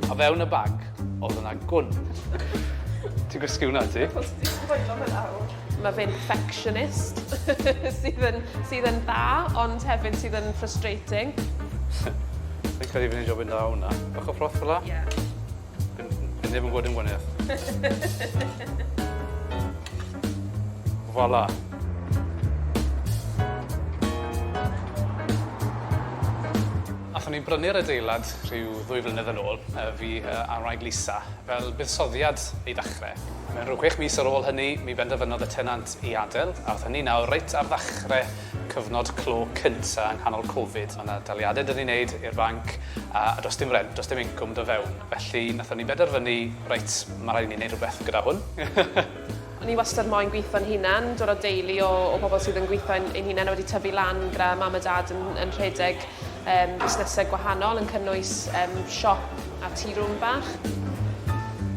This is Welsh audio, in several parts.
O fewn y bag oedd yna gwn. Ti'n gwsgu hwnna ti? Achos ti'n sboilo fe nawr. Mae fe'n perfectionist sydd yn sydd yn dda ond hefyd sydd yn frustrating. Fi'n credu fi'n neud jobyn dda o hwnna. Bach o froth fel 'a? Ie. Dyn dyn ni ddim yn gweld dim gwanieth. Voilà. Athon ni brynu'r adeilad rhyw ddwy flynedd yn ôl, y fi a'n wraig Lisa, fel buddsoddiad i ddechrau. Mewn rhyw chwech mis ar ôl hynny, mi benderfynodd y tenant i adael, a athon ni nawr reit ar ddechrau Cyfnod clo cynta yng nghanol Covid, o' 'na daliade 'da ni'n neud i'r banc a a do's dim rent, do's dim incwm do fewn, felly nathon ni benderfynu reit ma' raid i ni neud rwbeth gyda hwn. O'n i wastad moyn gwitho'n hunan, dod o deulu o o bobl sydd yn gwitho ein ein hunan a wedi tyfu lan gyda mam a dad yn yn rhedeg yym busnese gwahanol yn cynnwys yym siop a tea room bach.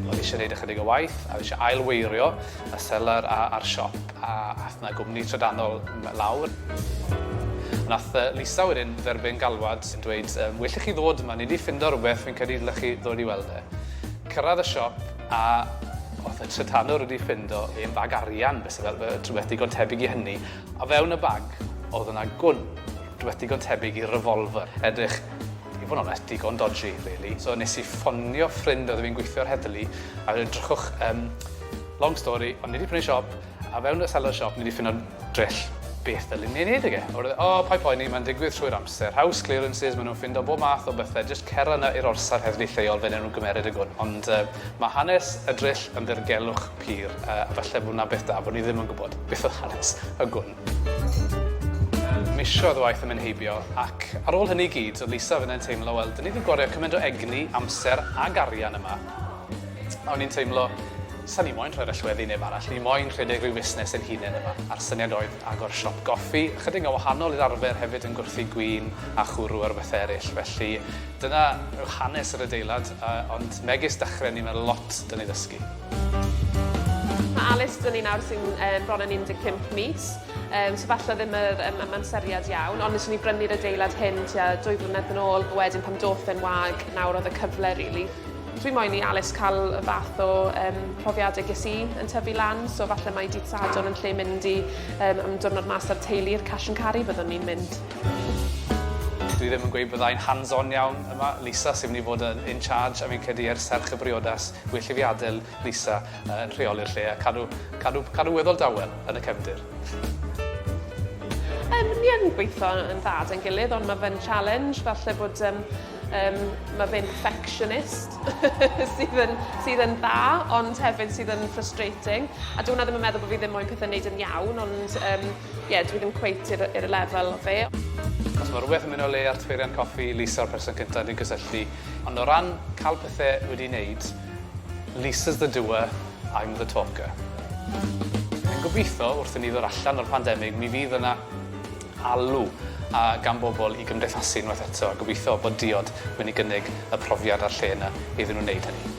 O'n i isie neud ychydig o waith a fi isie ail weirio y selar a a'r siop. A ath 'na gwmni trydanol m- lawr. Nath yy Lisa wedyn dderbyn galwad yn dweud yym well i chi ddod yma ni 'di ffindo rwbeth fi'n credu dylech chi ddod i weld e. Cyrradd y siop a o'dd y trydanwr wedi ffindo hen fag arian be' sy fel fe- rhwbeth digon tebyg i hynny. O fewn y bag o'dd yna gwn, rhwbeth digon tebyg i revolver. Edrych i fod yn onest digon dodgy rili. So nes i ffonio ffrind o'dd fi'n gweithio ar heddlu a weud drychwch yym Long story, ond ni 'di prynu siop, a fewn y seller shop ni 'di ffinno drill. Beth ddylun ni ei wneud ag e? Oherwydd, o, paid poeni, mae'n digwydd trwy'r amser. House clearances, maen nhw'n ffindo bob math o bethau, jyst cera 'na i'r orsaf heddlu lleol, fe wnawn nhw gymeryd y gwn. Ond yy, mae hanes y drill yn ddirgelwch pur, yy, a falle bod 'na beth da bod ni ddim yn gwybod beth oedd hanes y gwn. Misoedd o waith yn mynd heibio, ac ar ôl hynny i gyd, oedd Lisa fynne'n teimlo, wel, 'dyn ni 'di gwario cymaint o egni, amser, ag arian yma, A o'n i'n teimlo, sa'n i moyn rhoi'r allweddi i neb arall, o'n i moyn rhedeg rhyw fusnes ein hunen yma. A'r syniad oedd agor siop goffi, ychydig yn wahanol i'r arfer hefyd yn gwrthi gwin a chwrw ar bethe eryll. Felly dyna yw hanes yr adeilad, ond megis dechrau ni mae lot da ni ddysgu. Mae Alys da ni nawr sy'n um, bron yn 15 mis, um, so falle ddim yr um, amseriad iawn, ond nes i ni brynu'r adeilad hyn tua dwy flynedd yn ôl, wedyn pam doth e'n wag, nawr oedd y cyfle, really. Dwi moyn i Alys cael y fath o yym profiadau ges i yn tyfu lan so falle mai dydd Sadwrn yn lle mynd i yym am diwrnod mas a'r teulu i'r Cash and Carry byddwn i'n mynd. Dwi ddim yn gweud byddai'n hands on iawn yma, Lisa sy'n mynd i fod yn in charge a fi'n credu er serch y briodas well i fi adael Lisa yy yn rheoli'r lle a cadw cadw cadw weddol dawel yn y cefndir. Yym ni yn gweitho yn dda 'da'n gilydd ond ma' fe'n challenge falle bod yym Um, mae fe'n perfectionist sydd, yn, sydd yn dda, ond hefyd sydd yn frustrating. A dwi'n hwnna ddim yn meddwl bod fi ddim moyn pethau wneud yn iawn, ond um, yeah, dwi ddim cweit i'r, ir lefel o fe. Os mae rhywbeth yn mynd o le ar tfeirian coffi, Lisa o'r person cyntaf dwi'n cysylltu. Ond o ran cael pethau wedi wneud, Lisa's the doer, I'm the talker. Yn gobeithio, wrth i ni ddod allan o'r pandemig, mi fydd yna alw gan bobl i gymdeithasu unwaith eto a gobeithio bod diod wedi gynnig y profiad a'r lle yna iddyn nhw wneud hynny.